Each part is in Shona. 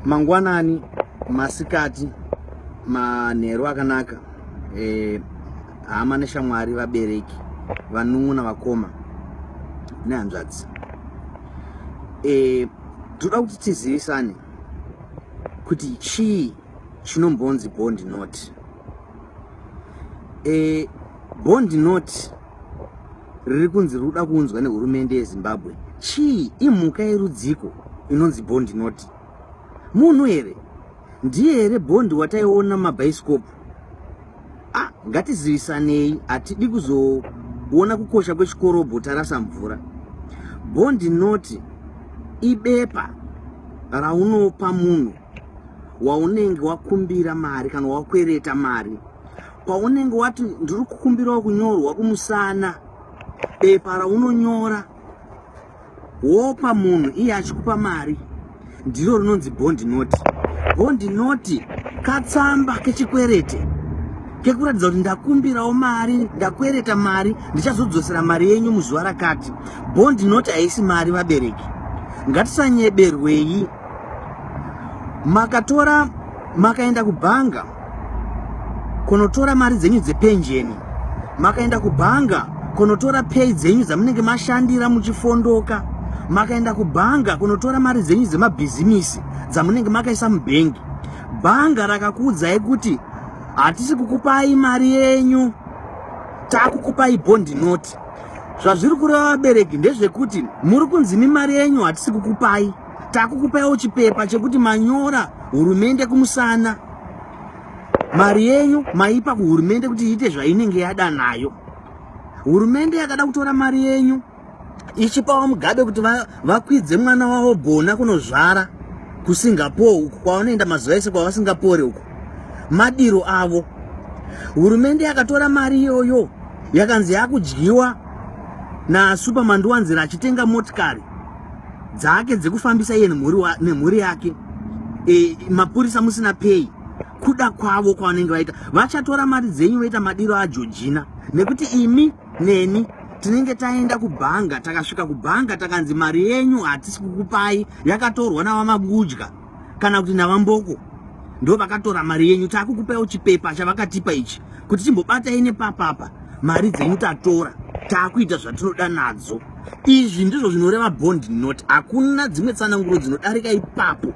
mangwanani masikati manheru akanaka eh, hama neshamwari vabereki vanun'una vakoma nehanzvadzi eh, toda kuti tizivisane kuti chii chinombonzi bond not eh, bond not riri kunzi riri kuda kuunzwa nehurumende yezimbabwe chii imhuka yerudziko inonzi bondi noti munhu here ndiye here bondi wataiona mabhaisikopu a ah, ngatizivisanei hatidi kuzoona kukosha kwechikorobho tarasa mvura bondi noti ibepa raunopa munhu waunenge wakumbira mari kana wakwereta mari paunenge wati ndiri kukumbirawo kunyorwa kumusana bepa raunonyora wopa munhu iye achikupa mari ndiro rinonzi bondi noti bondi noti katsamba kechikwerete kekuratidza kuti ndakumbirawo mari ndakwereta mari ndichazodzosera mari yenyu muzuva rakati bondi noti haisi mari vabereki ngatisanyeberwei makatora makaenda kubhanga kunotora mari dzenyu dzepenjeni makaenda kubhanga kunotora pay dzenyu dzamunenge mashandira muchifondoka makaenda kubhanga kunotora mari dzenyu dzemabhizimisi dzamunenge makaisa mubhengi bhanga rakakuudzai kuti hatisi kukupai mari yenyu takukupai bondi noti zvazviri kureva vabereki ndezvekuti muri kunzi mimari yenyu hatisi kukupai takukupaiwo chipepa chekuti manyora hurumende kumusana mari yenyu maipa kuhurumende kuti iite zvainenge yada nayo hurumende yakada kutora mari yenyu ichipawo mugabe kuti vakwidze mwana wavo gona kunozvara kusingapore uku kwavanoenda mazuva ese kwavasingapore uku madiro avo hurumende yakatora mari iyoyo yakanzi yakudyiwa nasuperman ndiwanzira achitenga motikari dzake dzekufambisa iye nemhuri yake e, mapurisa musina pay kuda kwavo kwavanenge vaita vachatora mari dzenyu voita madiro ajojina nekuti imi neni tinenge taenda kubhanga takasvika kubhanga takanzi mari yenyu hatisi kukupai yakatorwa navamabudya kana kuti navamboko ndo vakatora mari yenyu takukupawo chipepa chavakatipa ichi kuti timbobatai nepapapa mari dzenyu tatora takuita zvatinoda nadzo izvi ndizvo zvinoreva bond not hakuna dzimwe tsananguro dzinodarika ipapo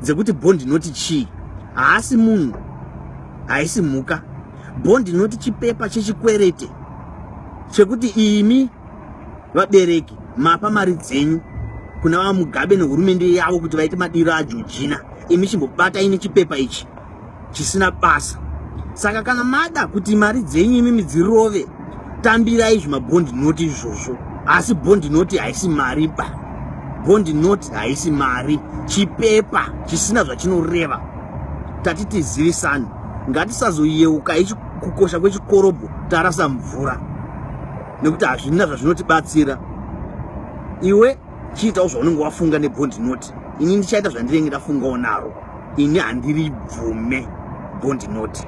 dzekuti bond not chii haasi munhu haisi mhuka bond not chipepa chechikwerete chekuti imi vabereki mapa mari dzenyu kuna vamugabe nehurumende yavo kuti vaite madiro ajojina imi chimbobatai nechipepa ichi chisina basa saka kana mada kuti mari dzenyu imi midzirove tambirai zvimabhondi noti izvozvo asi bhondi noti haisi mari ba bhondi noti haisi mari chipepa chisina zvachinoreva tati tizivisani ngatisazoyeuka kukosha kwechikorobho tarasa mvura nekuti hazvina zvazvinotibatsira iwe chiitawo zvaunenge wafunga nebond note ini ndichaita zvandirenge ndafungawo naro ini handiribvume bond note